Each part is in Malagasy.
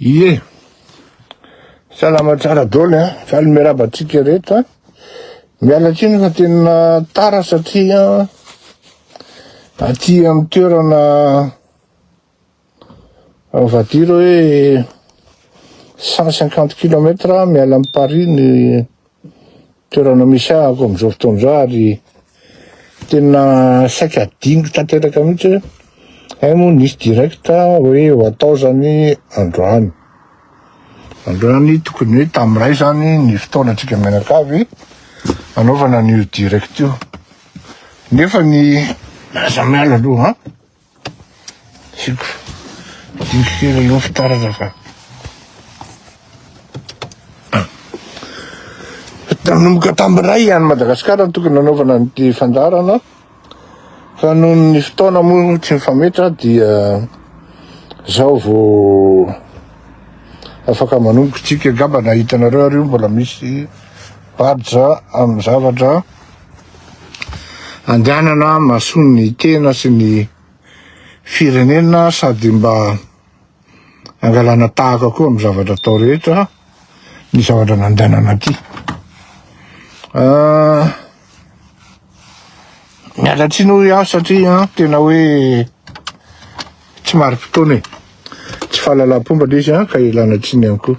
Ie. Salama tsara dôly a. Faly miarahaba antsika rehetra a. Miala tsiny fa tena tara satria aty amin'ny toerana on va dire hoe 150 kilomètre miala amin'i Paris ny toerana misy ahy ako amin'izao fotoana izao ary tena saika adiniko tanteraka mihitsy hoe hay eh, moa nisy directa hoe ho atao zany androany androany tokony hoe tamin'iray zany ny fotoana antsika mianakavy anaovana an'io direct io nefa ny aza miala aloha Nanomboka tamin'ny iray ihany Madagasikara no tokony nanaovana an'ity fandaharana fa noho ny fotoana moa tsy mifametra dia zao vao afaka manomboka tsika angamba na hitanareo ary io mbola misy badge amin'ny zavatra andehanana mahasoa ny tena sy ny firenena sady mba angalana tahaka koa amin'ny zavatra atao rehetra ny zavatra nandehanana aty ah, miala tsiny hoy aho satria ah, tena hoe tsy mari-potoana e tsy fahalalam-pomba le izy ah, ka ilana tsiny ihany koa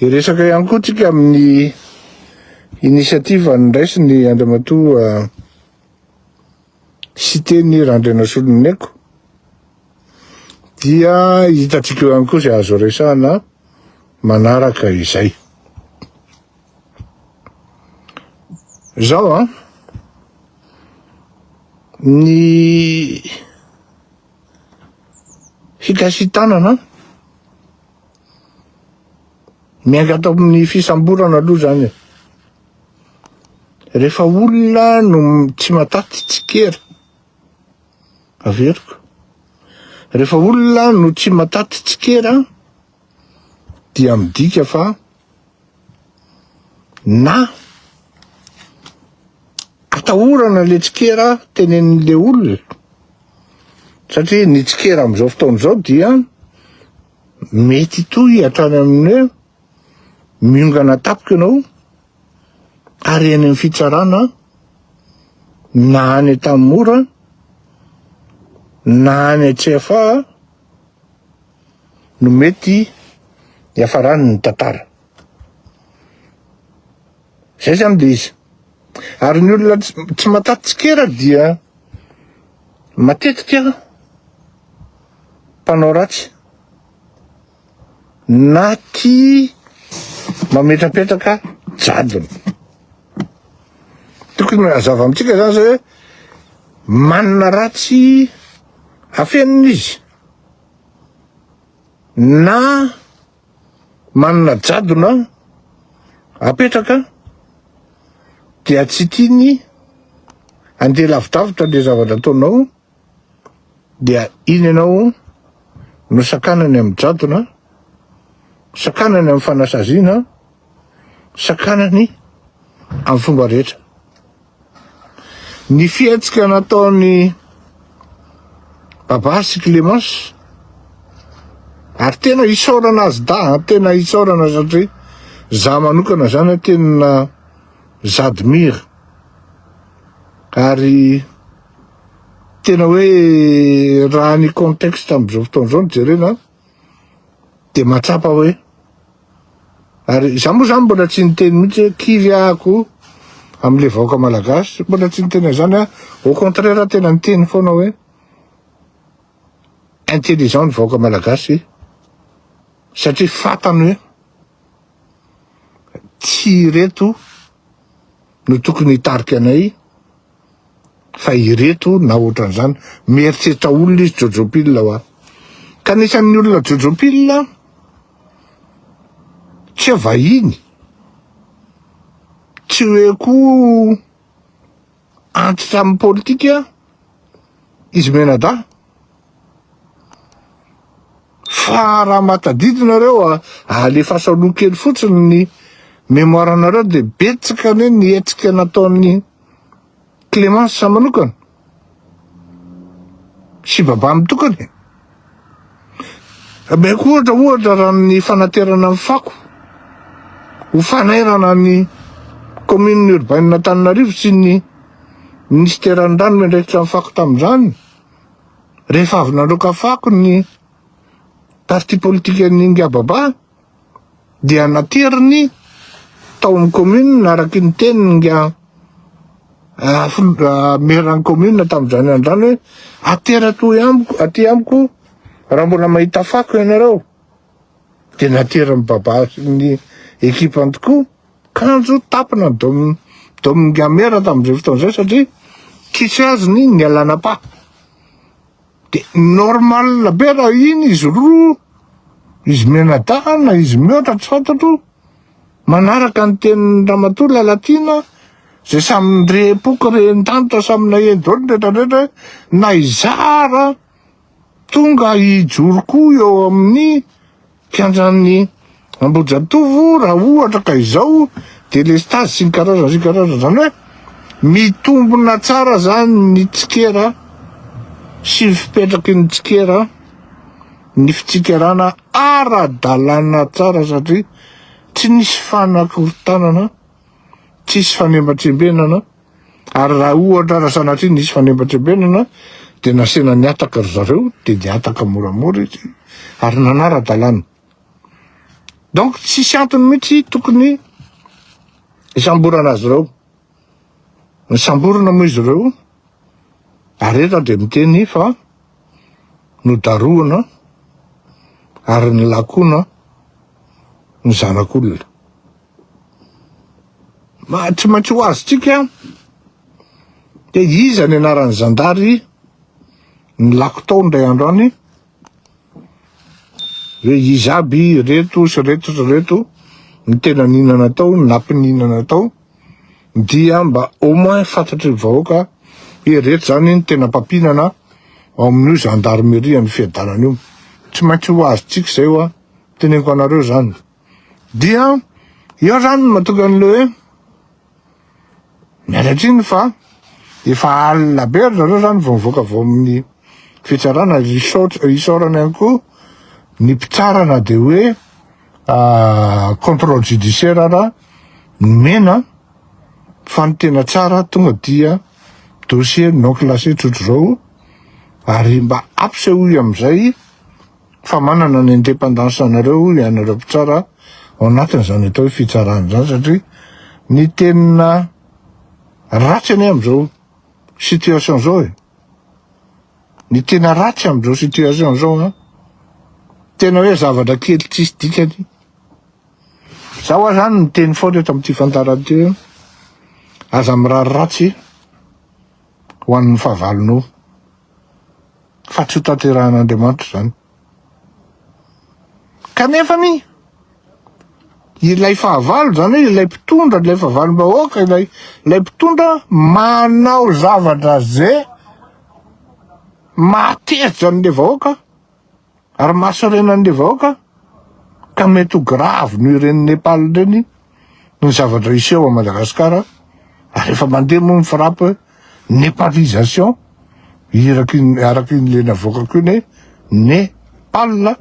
Hiresaka ihany koa tsika amin'ny initiative andraisiny Andriamatoa Siteny Randrianasoloniaiko dia hitantsika eo ihany koa izay azo resahana manaraka izay. Izao an, ny fikasitanana miainga ato amin'ny fisamborana aloha zany rehefa olona no tsy mataty tsikera averiko rehefa olona no tsy mataty tsikera dia midika fa Na atahorana le tsikera tenenin'le olona satria ny tsikera amin'izao fotoana izao dia mety toy hatrany amin'ny hoe miongana tapiko ianao ary eny amin'ny fitsarana na any Antanimora na any CFA no mety hiafarany ny tantara. Zay zany le izy. Ary ny olona tsy mataty tsikera dia matetika mpanao ratsy na tia mametrapetraka jadona. Tokony hazava amintsika zany zay hoe manana ratsy afenina izy na manana jadona apetraka dia tsy tiany andeha lavidavitra le zavatra ataonao dia iny ianao no sakanany amin'ny jadona sakanany amin'ny fanasaziana sakanany amin'ny fomba rehetra. Ny fihetsika nataon'i Baba sy Clémence ary tena hisaorana azy daha, tena hisaorana satria za manokana zany tena j'admire ary tena hoe raha ny contexte amizao fotoana izao no jerena Dia mahatsapa hoe ary izaho moa izany mbola tsy niteny mihitsy hoe kivy ako amin'ilay vahoaka malagasy, mbola tsy niteny an'izany aho. Au contraire aho tena niteny foana hoe intelligent ny vahoaka malagasy satria fantany hoe tsy ireto no tokony hitarika anay Fa ireto na ohatran'izany. Mieritreritra olona izy Jojo Pille hoa. Ka anisan'ny olona Jojo Pille tsy hoe vahiny, tsy hoe koa antitra amin'ny politika izy Menadahy. Fa raha mba tadidy nareo alefaso aloha kely fotsiny ny mémoire nareo dia betsaka anie ny hetsika nataon'ny Clemence manokana sy Baba mitokana e! Ameko ohatra ohatra raha ny fanaterana ny fako ho fanairana ny commune urbaine Antananarivo sy ny Ministeran'ny rano miandraikitra ny fako tamin'izany rehefa avy nandroaka fako ny parti politikan'ny Ingababa dia nateriny tao amin'ny commune araky ny tenin'ny Maire-n'ny commune tamin'izany androany hoe atera toy amiko aty amiko raha mbola mahita fako ianareo dia naterin'ny baba sy ny ekipany tokoa kanjo tapina dom dominga Maire tamin'izay fotoana izay satria tsy tsy azony ny alanapa De normal be raha iny izy roa, izy mianadahy na izy mihoatra tsy fantatro, manaraka ny tenin'i Ramatoa Lalatiana izay samy nirehim-poko rehin-danitra samy naheno daholo ny rehetra rehetra hoe na izaho ara tonga hijoro koa eo amin'ny Mpiandrany Ambohijatovo raha ohatra ka izao delestazy sy ny karazany sy ny karazany, izany hoe mitombona tsara izany ny tsikera sy ny fipetraky ny tsikera, ny fitsikerana ara-dalàna tsara satria tsy nisy fanakorontanana, tsisy fanembatrembenana. Ary raha ohatra raha sanatria nisy fanebantrebenana dia nasehana nihataka ry zareo dia nihataka moramora izy ary nanara-dalàna. Donc tsisy antony mihitsy tokony hisamborana azy ireo. Nisamborina moa izy ireo ary eto aho dia miteny fa nodarohana ary nilakona ny zanak'olona. Tsy maintsy ho azontsika dia iza ny anaran'ny zandary nilako tao indray andro any hoe iza aby reto sy reto sy reto ny tena ninana tao nampininana tao dia mba au moins fantatry ny vahoaka hoe reto zany ny tena mpampinana ao amin'io zandarimerian'ny fiadanana io tsy maintsy ho azontsika izay hoa teneniko anareo zany Dia eo zany no mahatonga an'ilay hoe miala tsiny fa efa alina be ry zareo zany vao mivoaka avy ao amin'ny fitsarana, ary isaotra isaorana ihany koa ny mpitsara na dia hoe contrôle judiciaire ara nomena fa ny tena tsara tonga dia dossier non classé tsotr'izao ary mba ampisehoy amin'izay Fa manana ny independance anareo ianareo mpitsara ao anatin'izany atao hoe fitsarana izany satria ny tena ratsy anie amin'izao situation izao e. Ny tena ratsy amin'izao situation izao an. Tena hoe zavatra kely tsisy dikany. Za hoa zany niteny foana eto amin'ity fantarana ity hoe aza mirary ratsy ho an'ny fahavalonao. fa tsy hotanterahan'Andriamanitra izany. Kanefa anie, ilay fahavalo izany hoe ilay mpitondra, ilay fahavalom-bahoaka, ilay ilay mpitondra manao zavatra ze mahatezitra an'ilay vahoaka, Ary mahasorena an'le vahoaka ka mety ho grave noho ireny Nepal ireny ny zavatra hiseho à Madagascar ary efa mandeha moa ny frappe Nepalisation iraky ny araky ny le navoakako iny hoe Nepal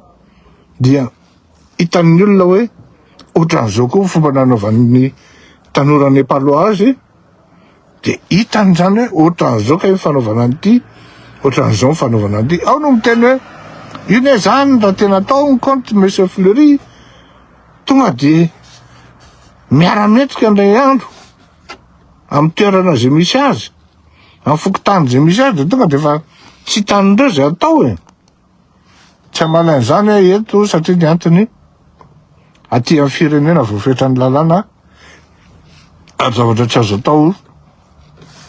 dia hitan'ny olona hoe otran'izao koa ny fomba nanaovan'ny tanora Nepalois azy Dia hitany izany hoe ohatran'izao kay ny fanaovana an'ity, ohatran'izao ny fanaovana an'ity. Ao no miteny hoe, io ne izany raha tena atao ny compte Monsieur Fleury, tonga dia miara-mendrika indray andro amin'ny toerana izay misy azy, amin'ny fokontany izay misy azy, dia tonga dia efa tsy hitan'ireo izay atao e. Tsy hanala an'izany aho eto satria ny antony aty amin'ny firenena voafetran'ny lalàna ary zavatra tsy azo atao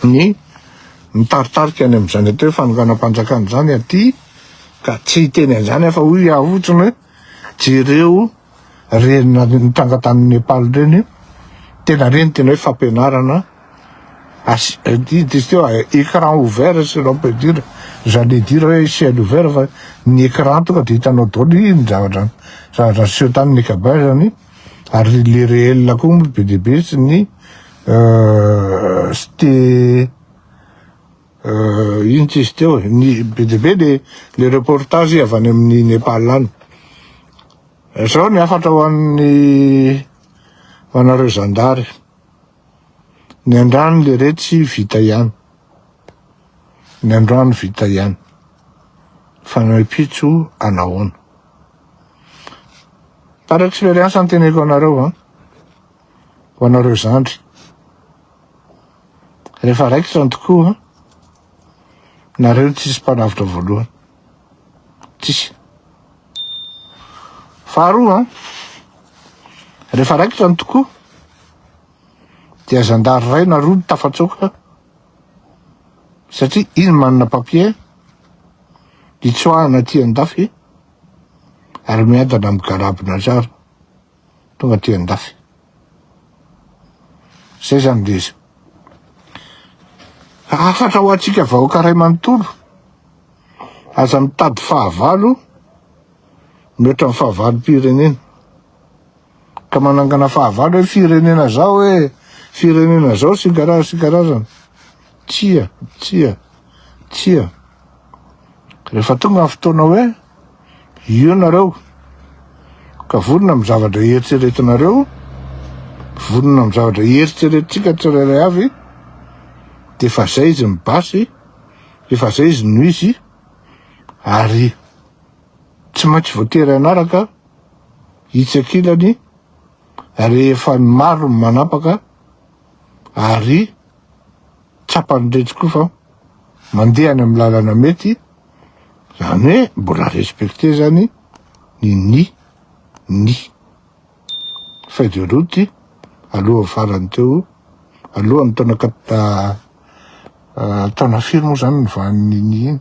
ny mitaritarika any amin'izany atao hoe fanonganam-panjakana izany aty ka tsy hiteny an'izany aho fa hoy aho fotsiny hoe Jereo reny nitranga tany Nepal reny, tena reny tena hoe fampianarana ils disent teo écran ouvert si l'on peut dire, j'allais dire hoe ciel ouvert fa ny écran tonga dia hitanao daholo iny ny zavatra zavatra niseho tany Mekabahy zany ary le réel koa moa be dia be sy ny site Inona tsisy teo e? Ny be dia be dia le reportage avy any amin'ny Nepal any. Zao ny hafatra ho an'ny ho anareo zandary. Ny andrano le retsy vita ihany. Ny androany vita ihany. Fa ny pitso anahoana? Par expérience no teneko anareo an. ho anareo zandry. Rehefa raikitra ny tokoa, nareo no tsisy mpanavotra voalohany. Tsisy. Faharoa, rehefa raikitra ny tokoa, dia zandary ray na roa no tafatsoaka satria iny manana papier hitsoahana aty an-dafy ary miadana amin'ny garabona zara. tonga aty andafy. Zay zany de izy. Hafatra ho antsika vahoaka ray manontolo, aza mitady fahavalo mihoatra ny fahavalom-pirenena. Ka manangana fahavalo hoe firenena zao hoe firenena zao sy karazana sy karazana. Tsia, tsia, tsia. Rehefa tonga ny fotoana hoe Io nareo ka vonona amin'ny zavatra hieritreretinareo, vonona amin'ny zavatra hieritreretintsika tsirairay avy, dia efa izay izy ny basy, efa izay izy no izy, ary tsy maintsy voatery hanaraka itsy ankilany, ary efa ny maro ny manapaka, ary tsapan'iretsy koa fa mandeha any amin'ny lalana mety, zany hoe mbola respecter zany ny ny ny feuille de route alohan'ny farany teo, alohan'ny taona taona firy moa zany ny vaniny iny.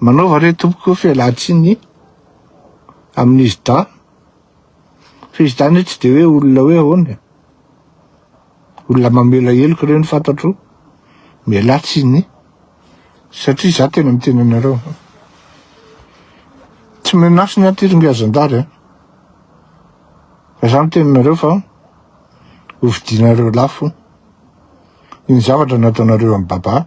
Manaova re tompoko fialantsiny amin'izy dahy fa izy dahy anie tsy de hoe olona hoe ahoana e. Olona mamela heloka ireo ny fantatro. Mialà tsiny satria za tena miteny anareo. Tsy menace ny ahy ty rangahy zandary a. Fa za miteny anareo fa hofidianareo lafo iny zavatra nataonareo an'i Baba.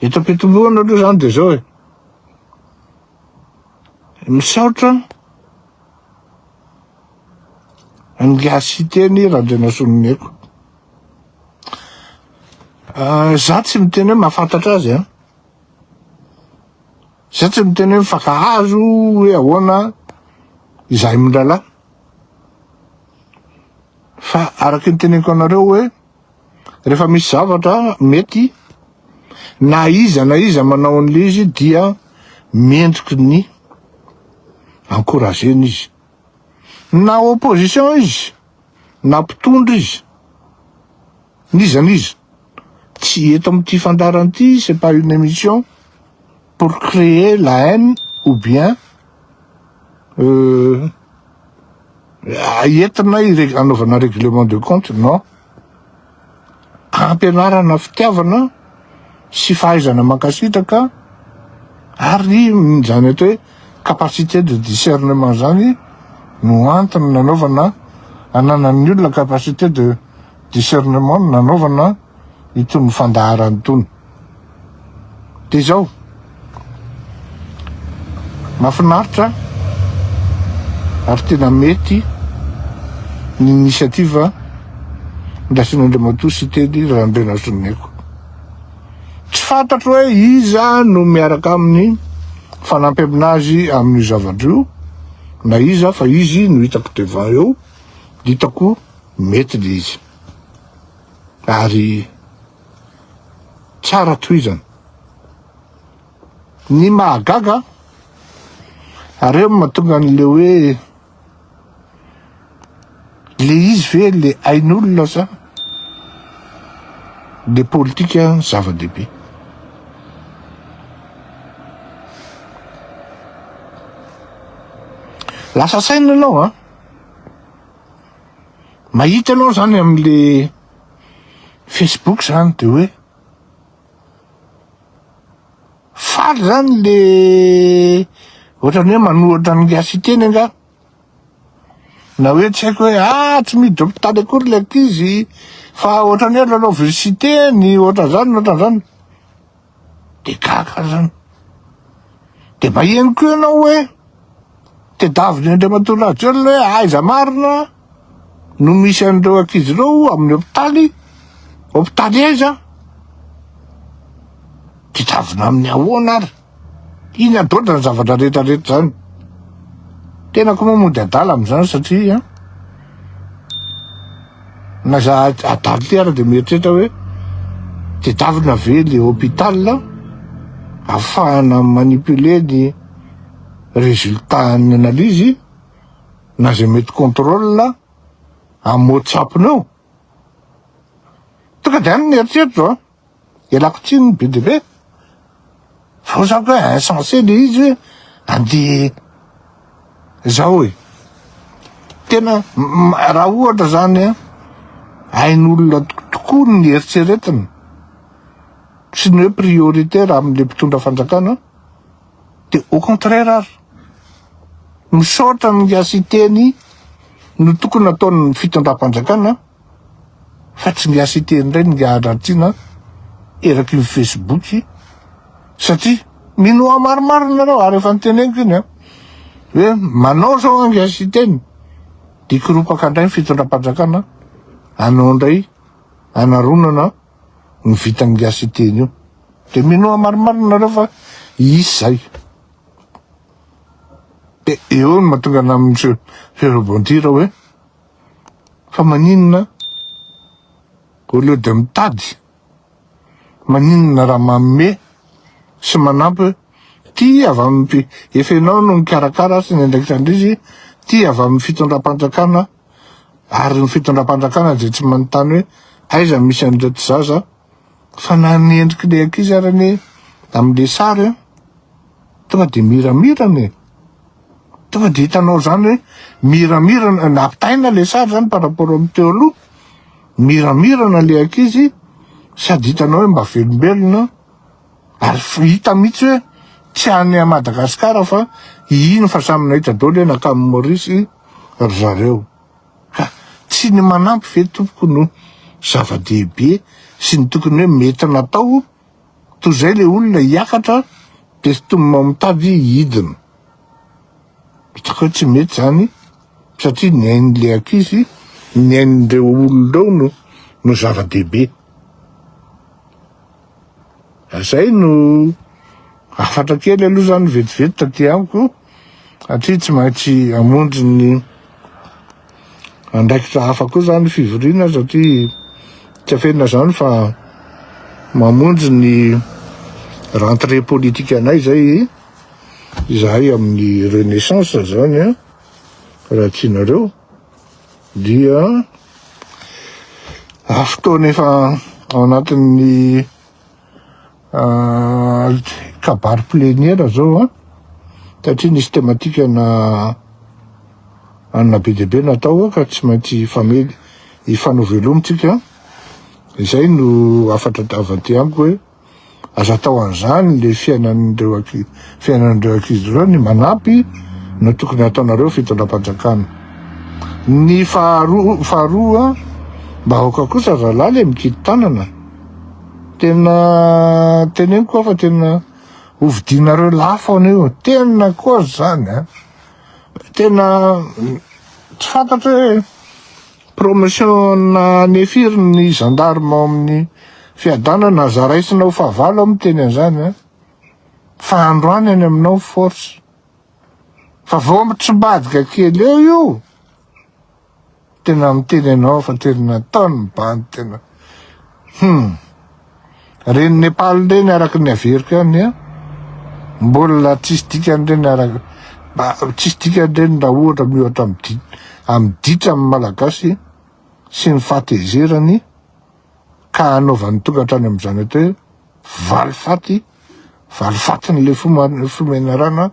Eto am-pitomboana aloha izany dia izao e. Misaotra an'ingahy Siteny Randrianasonimeko. Ah, za tsy miteny hoe mahafantatra azy an. Za tsy miteny hoe mifankahazo hoe ahoana izahay mirahalahy. Fa araka ny teneniko anareo hoe Rehefa misy zavatra mety na iza na iza manao an'ilay izy dia mendriky ny encourager-na izy. Na opposition izy, na mpitondra izy, n'iza n'iza. Tsy eto amin'ity fandaharana ity, c'est pas une émission pour créer la haine ou bien Euh, entina anaovana règlement de compte non ampianarana fitiavana sy fahaizana mankasitraka ary zany atao hoe capacité de discernement zany no antony nanaovana ananan'ny olona capacité de discernement nanaovana itony fandaharana itony. Dia izao, mahafinaritra ary tena mety ny initiative ndraisin'Andriamatoa Siteny Randrianazonimeko. Tsy fantatro hoe iza no miaraka aminy fanampy aminazy amin'io zavatra io na iza fa izy no hitako devant eo, hitako mety le izy. Ary tsara tohizana. Ny mahagaga ary eo mahatonga an'ilay hoe le izy ve le ain'olona sa le politika zava-dehibe. Lasa saina ianao an! Mahita anao zany amle Facebook zany de hoe faly zany le ohatrany hoe manohatra ny gasy teny angaha na hoe tsy haiko hoe a ah, tsy mihidy hopitaly akory le ankizy fa ohatrany hoe lalaoviny siteny ohatran'zany ohatran'zany de gaga zany de mba henoko eo ianao hoe tedaviny Andriamatoa Rajoelina hoe aiza marina no misy an'ireo ankizy ireo amin'ny hopitaly hopitaly aiza tedavina amin'ny ahoana ary iny adoatra ny zavatra rehetra rehetra zany tenako moa mody adala amin'izany satria Na za adala ty ara de mieritreritra hoe tedavina ve le hôpital afahana mi manipuler ny résultat an'ny analyse na zay mety contrôle am whatsapp nao? Tonga de any ny eritreritrao a! Ialako tsiny ny be dia be fa ho zaka hoe insensé le izy hoe andeha zao e. Tena raha ohatra zany an, hain'olona tokoa ny eritreretina sy ny hoe prioritaire amin'le mpitondra fanjakana de au contraire ary misaotra ny gasy teny no tokony ataon'ny fitondram-panjakana an. fa tsy miasa ity indray ny hahadratiana eraky ny Facebook satria minoa maromaro ianareo ary efa niteneniko iny an hoe manao zao ange siteny dia kiropaka indray ny fitondram-panjakana anao indray anaronana ny vitan'ny gasy iteny io dia minoa maromaro ianareo fa hisy zay dia eo no mahatonga an'amin'ny rebondir hoe Fa maninona au lieu de mitady, maninona raha manome sy manampy ty avy amin'ny efa ianao no mikarakara sy ny andraikitran-drizy, ty avy amin'ny fitondram-panjakana ary ny fitondram-panjakana dia tsy manontany hoe aiza misy an'ireto zaza, Fanan'ny endriky le ankizy ary anie amle sary a! Tonga de miramirana e! Tonga de hitanao zany hoe miramirana, nampitaina le sary zany par rapport amin'ny teo aloha, miramirana le ankizy sady hitanao hoe mba velombelona ary hita mihitsy hoe tsy any a Madagascar fa hihino fa samy nahita daholo hoe nankany Maurice ry zareo. Ka tsy ny manampy ve tompoko no zava-dehibe sy ny tokony hoe mety natao? Toa izay ilay olona hiakatra dia sintomina ao mitady hidina. Hitako hoe tsy mety izany satria ny ain'ilay ankizy, ny ain'ireo olona eo no no zava-dehibe. Zay no hafatra kely aloha zany vetivety taty amiko satria tsy maintsy hamonjy ny andraikitra hafa koa zany fivoriana satria tsy afenina zany fa mamonjy ny rentrée politique anay zay izahay amin'ny renaissance zany raha tianareo dia fotoana efa ao anatin'ny kabary pleniera zao a satria nisy tematikana anona be dia be natao ka tsy maintsy hifamely hifanovelomintsika izay no hafatra avy aty amiko hoe Aza atao an'izany le fiainan'ireo fiainan'ireo ankizy ireo ny manampy no tokony ataonareo fitondram-panjakana. Ny faharoa faharoa mba aoka kosa rahalahy le mikidy tanana. Tena teneniko koa fa tena hovidinareo lafo an'io. Tena koa zany a. Tena tsy fantatro hoe Promotion na anie firy ny gendarme ao amin'ny fiadanana aza raisina ho fahavalo aho miteny an'izany an! Fa androany any aminao force! Fa vao mitrimbadika kely eo io tena miteny anao fa tena ataony bandy tena! Hum. Reny Nepal reny araka ny averiko ihany a. Mbola tsisy dikany reny araka ba tsisy dikany reny raha ohatra miohatra amin'ny di amin'ny ditra amin'ny malagasy sy ny fahatezerany ka anaovany tokantrano amin'izany atao hoe valifaty valifatin'ilay fo fo menarana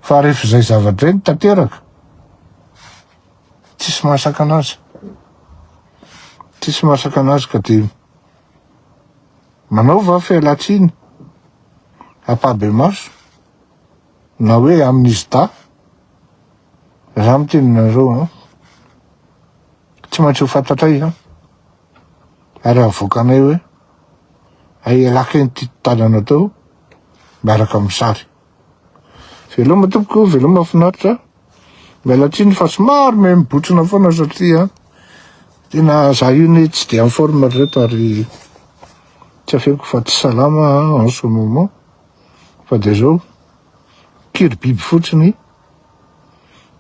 fa rehefa izay zavatra izay no tanteraka tsisy mahasaka an'azy, tsisy mahasaka an'azy ka de manaova aho fialantsiny ampahibemaso na hoe amin'izy dahy raha miteny anareo an tsy maintsy ho fantatray an ary havoakanay hoe ay ialaka eny ty tanana tao miaraka amin'ny sary Veloma tompoko, veloma finaritra. Miala tsiny fa somary me mibotsina foana satria tena za io ne tsy de en forme reto ary tsy afeko fa tsy salama en ce moment fa de zao kiry biby fotsiny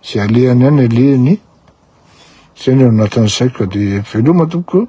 ze alehany any alehany zay ny ao anatin'ny saiko de veloma tompoko.